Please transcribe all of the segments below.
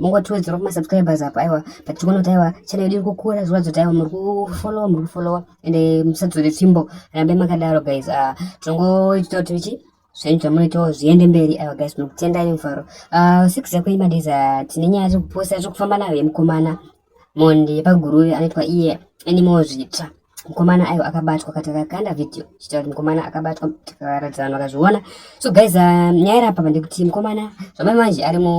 mungotiwedzera kuma subscribers apa aiwa but tikuona kuti aiwa channel yedu iri kukura zviratidza kuti aiwa muri kufollowa muri kufollowa and eh, musadzore tsvimbo rambai makadaro guys ah, tinongoita kuti ichi zvenyu zvamunoitawo zviende mberi aiwa guys tinokutendai nemufaro ah, six yakoima days ah, tine nyaya dzekuposta zvekufamba nayo yemukomana Mhondi yepaGuruve anoitwa iye anemawo zvitsva mukomana ayo akabatwa kati kakanda video chitaura kuti mukomana akabatwa tikaratidza vanhu vakazviona so guys uh, nyaya irapa pande kuti mukomana zvamai manje ari mu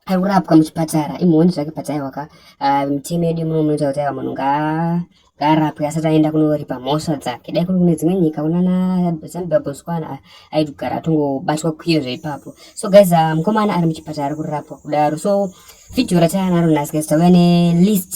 ari kurapwa muchipatara imhondi zvake padzaiwaka uh, mitemo yedu muno munoita kuti aiwa munhu ngaa Garapwe asati aenda kunoripa mhosva dzake dai kuri kune dzimwe nyika unana zambia botswana aitogara atongobatwa kwiyo zveipapo so guys uh, mukomana ari muchipatara ari kurapwa kudaro so video rataanaro nhasi guys tauya nelist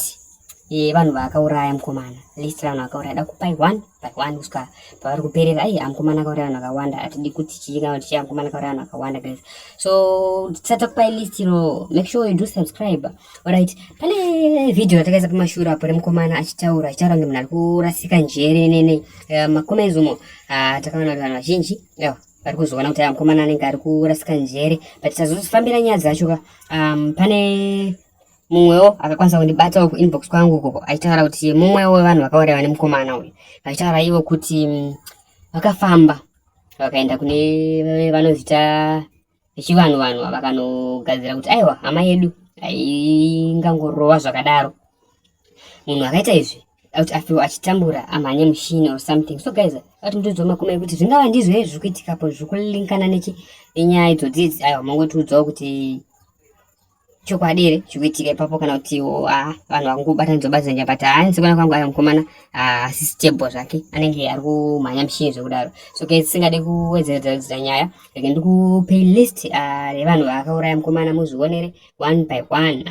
yevanhu eh, vaakauraya mukomana list ravanhu vakauraya da kupai one by one kusvika pavari kuperera ai amukomana akauraya vanhu vakawanda atidi kuti chii kana kuti chii amukomana akauraya vanhu vakawanda guys so tisati takupai list iro make sure you do subscribe Alright, pane video ratakaisa pamashura apo remukomana achitaura achitaura ngemunhu ari kurasika njere nene eh, makomezi umo ah, takaona kuti vanhu vazhinji ewa vari kuzoona kuti ah, mukomana anenge ari kurasika njere but tazozifambira nyaya dzacho ka um, pane mumwewo akakwanisa kundibatawo kuinbox kwangu ukoko achitaura kuti mumwewo wevanhu vakauraiwa nemukomana uyu achitaura ivo kuti mm, vakafamba vakaenda kune vanozita vechivanhu vanhu vakanogadzira kuti aiwa hama yedu ingangorova zvakadaro munhu akaita izvi kuti afewa achitambura amhanye mushini or something so guys ati mutiudzawo makumi ekuti zvingava ndizvo here zviri kuitikapo zviri kulinkana nechi nenyaya idzo dzidzi aiwa mongotiudzawo kuti chokwadi here chikuitika ipapo kana kuti ah, vanhu vakungobatanidzwa batidza nyapata haa nsekwana kwangu ayo mukomana ah, asi stable zvake anenge ari kumhanya mishini zvekudaro so ke tisingade kuwedzeredza kudzidza nyaya reke ndikupe list ah, revanhu vakauraya mukomana muzvionere one by one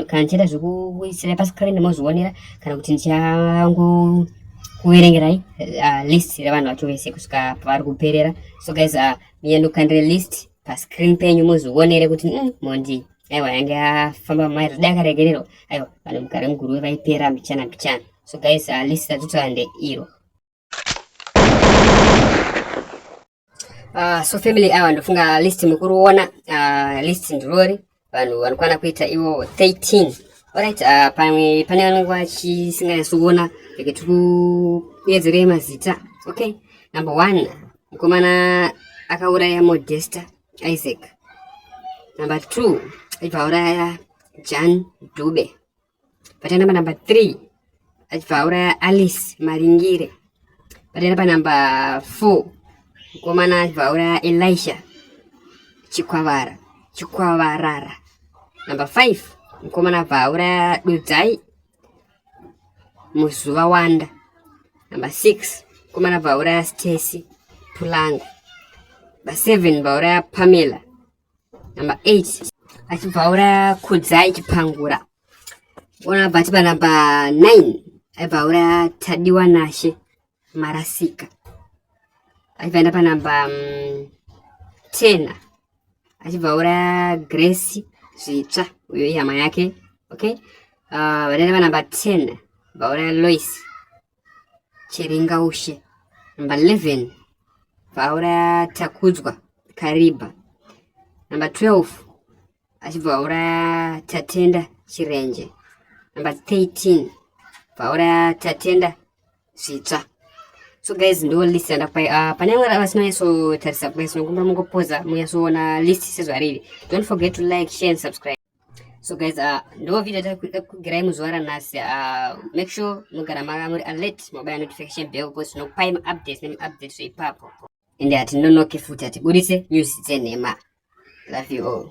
kana ndichaita zvekuisira pascreen mozvionera kana kuti ndichango kuverengerai list revanhu vacho vese kusvika pavari kuperera so guys miyandokandire list pascreen penyu muzvionere kuti mm, mondi aiwa yange afamba mai rida akaregererwa aiwa vanhu mugare muguruve vaipera mbichana mbichana so guys uh, list ratotande iro uh, so family awa ndofunga list mukuriona uh, list ndirori vanhu vanokwana kuita ivo 13 orit uh, ah, pamwe pane vanenge vachisinganyatsoona eke tikuedzerei mazita okay number one mukomana akauraya modesta isaac number two aibva auraya jan dube Patenda panamba 3 achibva auraya Alice Maringire. Patenda panamba 4 mukomana achibva auraya Elisha Chikwavara Chikwavarara. Namba 5 mukomana abva auraya Dudzai Muzuva Wanda. Namba 6 mukomana abva auraya Stacy Pulanga. Namba 7 vauraya Pamela number 8 achibva auraya kudzai chipangura ona bva tipa number 9 aibva auraya tadiwa nashe marasika achibva enda panumber mm, 10 achibva auraya grace zvitsva uyo ihama yake okay uh, vadaenda panumber 10 vauraya lois Chiringaushe. Number 11, vauraya Takudzwa Kariba. Number 12, achibva vauraya Tatenda Chirenje. Number 13, vauraya Tatenda Zvitsva. So guys, ndo list yandakupai. Uh, ah, pane vamwe vasinonyasotarisa guys, nokumba mungopoza munyasoona list sezvariri. Don't forget to like, share and subscribe. so guys uh, ndo video takugirai muzuva ranhasi uh, make sure mugara mava muri alert mobaya notification bell because tinokupai maupdates nemaupdates zveipapo ende hatinonoki futi hatiburitse news dzenhema love you all